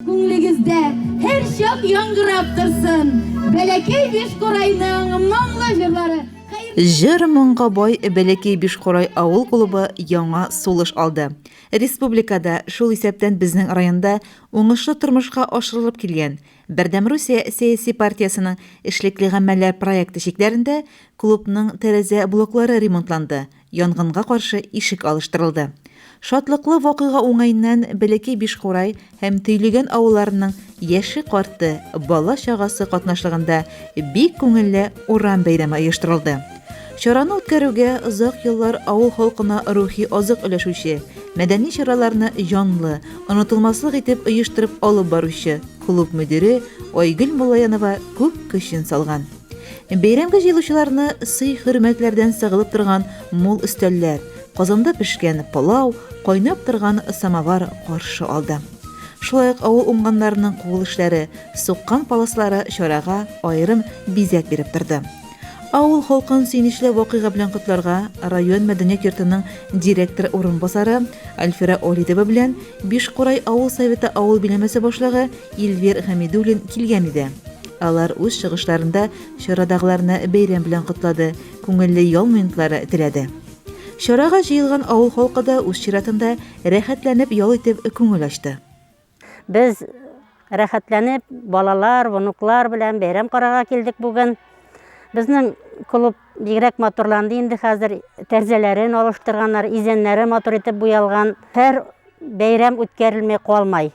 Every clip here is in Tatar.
Күңлегездә һәрчак яңгырап торсын Бәләкәй Бишкурайның моңлы җырлары! Җыр-моңга бай Бәләкәй Бишкурай авыл клубы яңа сулыш алды. Республикада, шул исәптән безнең районда уңышлы тормышка ашырылып килгән Бердәм Русия сәяси партиясенең эшлекле гамәлләр проекты чикләрендә клубның тәрәзә блоклары ремонтланды, Янгынга каршы ишек алыштырылды. Шатлыклы вакыйга уңаеннан Бәләкәй Бишкурай һәм Төйлегән авылларының яше-карты, бала-чагасы катнашлыгында бик күңелле урам бәйрәме оештырылды. Чараны үткәрүгә озак еллар авыл халкына рухи азык өләшүче, мәдәни чараларны җанлы, онытылмаслык итеп оештырып алып баручы клуб мөдире Айгөл Муллаянова күп көчен салган. Бәйрәмгә җыелучыларны сый-хөрмәтләрдән сыгылып торган мул өстәлләр, казанда пешкән пылау, кайнап торган самовар каршы алды. Шулай ук авыл уңганнарының кул эшләре, суккан паласлары чарага аерым бизәк биреп торды. Авыл халкын сөенечле вакыйга белән котларга район мәдәният йортының директор урынбасары Альфира Олидова белән Бишкурай авыл советы авыл биләмәсе башлыгы Эльвир Хәмидуллин килгән иде. Алар үз чыгышларында чарадагыларны бәйрәм белән котлады, күңелле ял минутлары теләде. Чарага җыелган авыл халкы да үз чиратында рәхәтләнеп ял итеп күңел ачты. Без рәхәтләнеп балалар, внуклар белән бәйрәм карарга килдек бүген. Безнең клуб бигрәк матурланды инде хәзер. Тәрзәләрен алыштырганнар, изәннәре матур итеп буялган. Һәр бәйрәм үткәрелми калмай.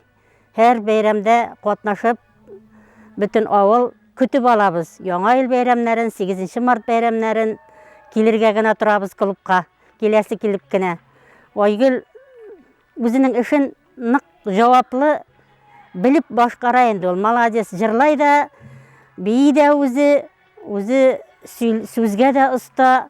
Һәр бәйрәмдә катнашып, бөтен авыл көтеп алабыз. Яңа ел бәйрәмнәрен, 8 март бәйрәмнәрен килергә генә торабыз клубка. Киләсе килеп кенә. Айгөл үзенең эшен нык җаваплы белеп башкара инде ул. Молодец, җырлай да, бии дә үзе, үзе сүзгә дә оста.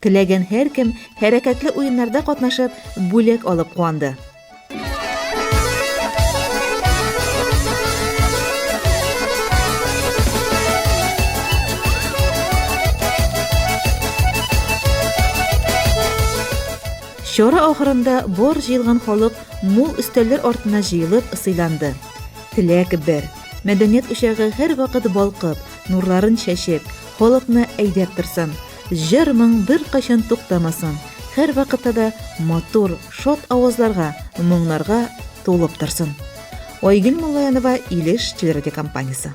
Теләгән һәркем хәрәкәтле уеннарда катнашып, бүләк алып куанды. Чара ахырында бар җыелган халык мул өстәлләр артына җыелып сыйланды. Теләк бер, мәдәният учагы һәрвакыт балкып, нурларын чәчеп, халыкны әйдәп торсын. Җыр-моң беркайчан туктамасын, һәрвакытта да матур, шат авазларга, моңнарга тулып торсын. Айгөл Муллаянова, Илеш телерадиокомпаниясе.